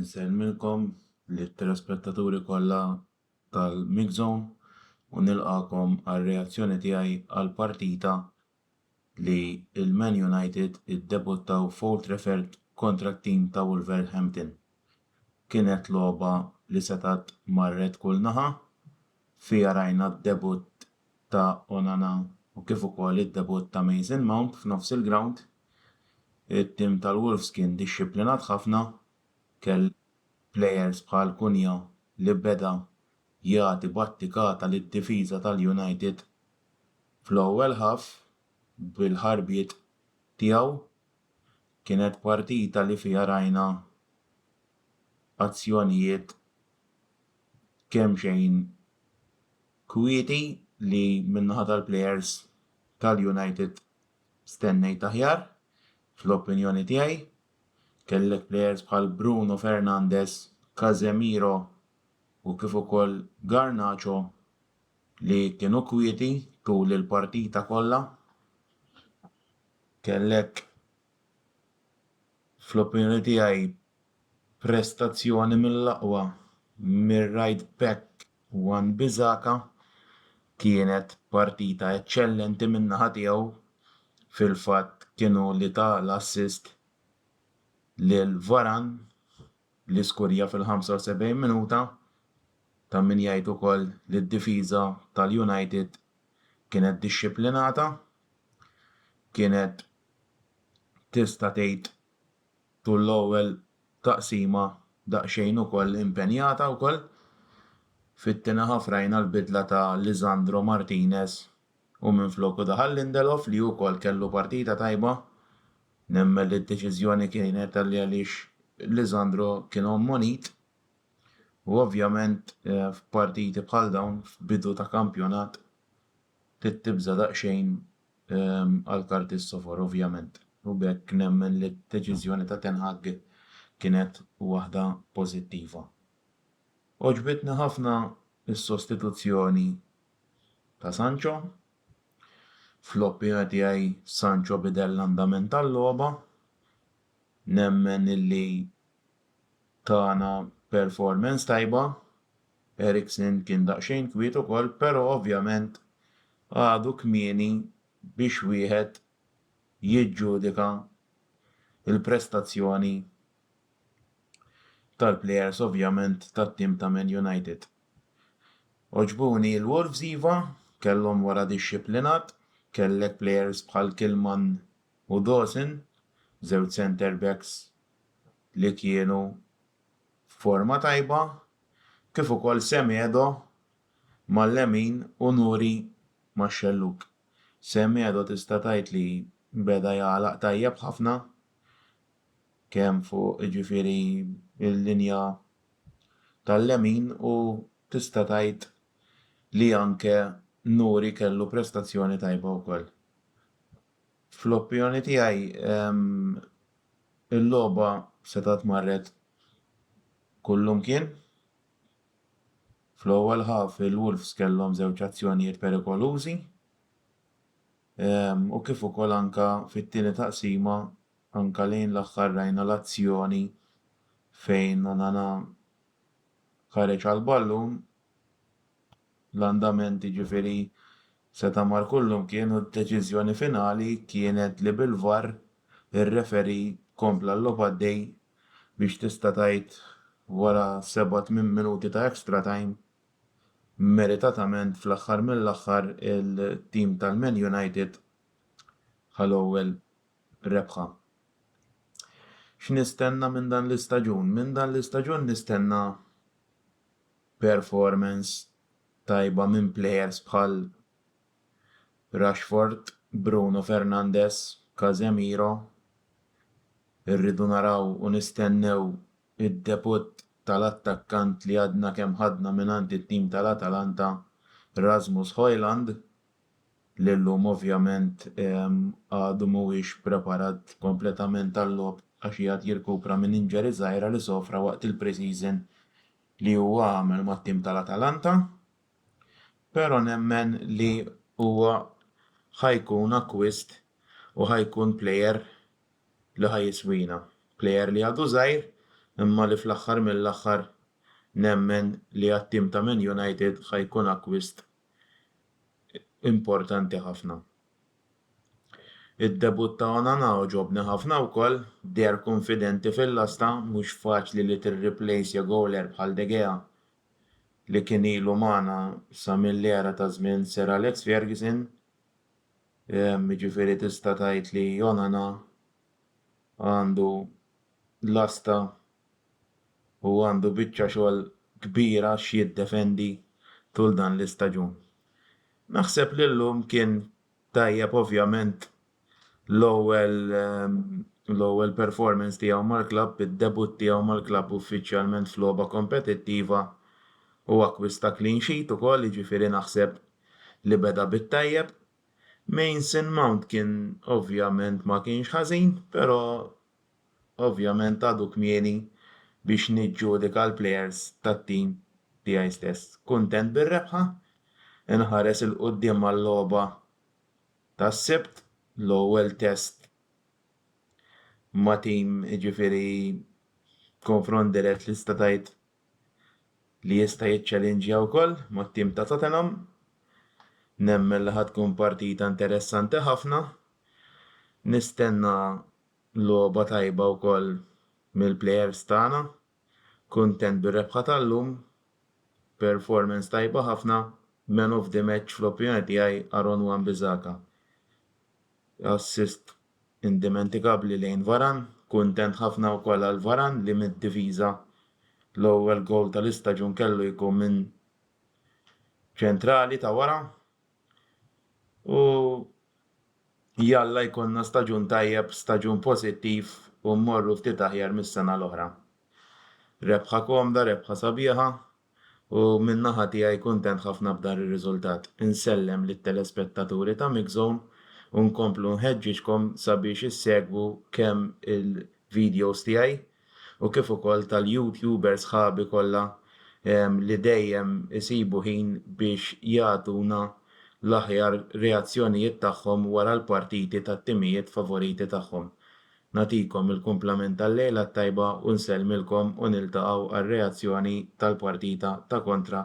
Insellmilkom li telespettaturi kollha tal-Mix Zone u nilqakom għal reazzjoni tiegħi għal partita li l-Man United iddebuttaw f'Old Trafford kontra t-tim ta' Wolverhampton. Kienet logħba li setgħet marret kull naħa, fiha rajna d-debutt ta' Onana u kif ukoll id-debutt ta' Mason Mount f'nofs il-grawnd. It-tim tal-Wolves kien dixxiplinat ħafna, kellu plejers bħal Cunha li beda jagħti battikata lid-difiża tal-United Fl-ewwel half, bil-ħarbiet tiegħu, kienet partita li fiha rajna azzjonijiet kemxejn kwieti li min-naħa tal-plejers tal-United stennejt aħjar, fl-opinjoni tiegħi. Kellek plejers bħal Bruno Fernandes, Casemiro u kif ukoll Garnacho. li kienu kwieti tul il-partita kollha. Kellek fl-opinjoni tiegħi prestazzjoni mill-aqwa mir-right back Wan Bissaka. Kienet partita eċċellenti min-naħa tiegħu, fil-fatt kien hu li ta l-assist lil Varane l-iskurja fil-75 minuta ta' min jgħid ukoll li d-difiża tal-United kienet dixxiplinata, kienet tista' tgħid tul l-ewwel taqsima daqsxejn ukoll impenjata wkoll. Fit-tieni ħaf rajna l-bidla ta' Lisandro Martinez u minfloku daħal Lindelof li wkoll kellu partita tajba. Nemmen li d-deċiżjoni kienet għaliex Lisandro kien ommonit u ovvjament f'partiti bħal dawn f'bidu ta' kampjonat trid tibża' daqsxejn għall-karti s-sofor ovvjament u b'hekk nemmen li d-deċiżjoni ta' Ten Hag kienet waħda pożittiva. Għoġbitni ħafna s-sostituzzjoni ta' Sancho. Fl-opinjoni tiegħi Sancho bidel l-andament tal-logħba. Nemmen illi tana performance tajba. Eriksen kien daqsxejn kwiet ukoll, però ovvjament għadu kmieni biex wieħed jiġġudika l-prestazzjoni tal-plejers ovvjament tat-tim ta' Man United. Għoġbuni l-Wolves iva, kellhom wara dixxiplinat, kellek players bħal Kilman u Dawson, żewġ centre backs li kienu f'forma tajba, kif ukoll Semedo mal-lemin u Nouri max-xellug. Semedo tista' tgħid li beda jagħlaq tajjeb ħafna kemm fuq jiġifieri l-linja tal-lemin u tista' tgħid li anke Nouri kellu prestazzjoni tajba wkoll. Fl-opinjoni tiegħi il-logħba setgħet marret kullumkien. Fl-ewwel half il-Wolves kellhom żewġ azzjonijiet perikolużi u kif ukoll anke fit-tieni taqsima Anke lejn l-aħħar rajna l-azzjoni fejn Onana ħareġ għall-ballun, l-andament jiġifieri seta' mar kullimkien u d-deċiżjoni finali kienet li bil-VAR ir-referee kompla l-logħob għaddej biex tista' tgħid wara seba' tmien minuti ta' extra time meritatament fl-aħħar mill-aħħar il-tim tal-Man United ħa l-ewwel rebħa. X'nistenna minn dan l-istaġun? Minn dan l-istaġun nistenna performance tajba minn players bħal Rashford, Bruno Fernandes, Casemiro. Irridu naraw u nistennew id-debutt tal-attakkant li għadna kemm ħadna mingħand it-tim tal-Atalanta, Rasmus Hojlund, li llum ovvjament għadu mhuwiex preparat kompletament għal-logħob għax qiegħed jirkupra minn injury żgħira li sofra waqt il-pre-season li huwa għamel mat-tim tal-Atalanta, pero nemmen li huwa ħa jkun acquist u ħa jkun player li ħa jiswina. Player li għadu żgħir imma li fl-aħħar mill-aħħar nemmen li għat-tim ta' Man United ħa jkun acquist importanti ħafna. Id-debutt ta' Onana għoġobni ħafna wkoll, deher kunfidenti fil-lasta, mhux faċli li tirriplejsja gowler bħal De Gea li kien ilu magħna sa mill-era ta' żmien Sir Alex Ferguson, jiġifieri tista' tgħid li Onana għandu lasta u għandu biċċa xogħol kbira x'jiddefendi tul dan l-istaġun. Naħseb li llum kien tajjeb ovvjament l-ewwel l-ewwel performance tiegħu mal-klabb, id-debutt tiegħu mal-klabb uffiċjalment f'logħba kompetittiva u akkwista clean sheet ukoll jiġifieri naħseb li beda bit-tajjeb. Mason Mount kien ovvjament ma kienx ħażin, però Ovvjament għadu kmieni biex niġġudika l-plejers tat-tim tiegħi stess. Kuntent bir-rebħa, inħares 'il quddiem għal-logħba tas-Sibt, l-ewwel test ma' tim, jiġifieri konfront dirett li tista' tgħid li jista' jiċċelinġja wkoll mat-tim ta' Tottenham. Nemmen li ħa tkun partita interessanti ħafna. Nistenna Logħba tajba wkoll mill-plejers tagħna. Kuntent bir-rebħa tal-lum. Performance tajba ħafna. Man of the match fl-opinjoni tiegħi Aaron Wan-Bissaka. Assist indimentikabbli lejn Varane. Kuntent ħafna wkoll għal Varane li mid-difiża l-ewwel gowl tal-istaġun kellu jkun minn ċentrali ta' wara. U jalla jkollna staġun tajjeb, staġun pożittiv u mmorru ftit aħjar mis-sena l-oħra. Rebħa komda, rebħa sabiħa u minn naħa tiegħi kuntent ħafna b'dan ir-riżultat. Insellem lit-telespettaturi ta' MixZone u nkomplu nħeġġiġkom sabiex issegwu kemm il-videos tiegħi u kif ukoll tal-YouTuber sħabi kollha li dejjem isibu ħin biex jagħtuna l-aħjar reazzjonijiet tagħhom wara l-partiti tat-timijiet favoriti tagħhom. Nagħtikom il-kumplament tal-lejla t-tajba u nsellmilkom u niltaqgħu għar-reazzjoni tal-partita ta' kontra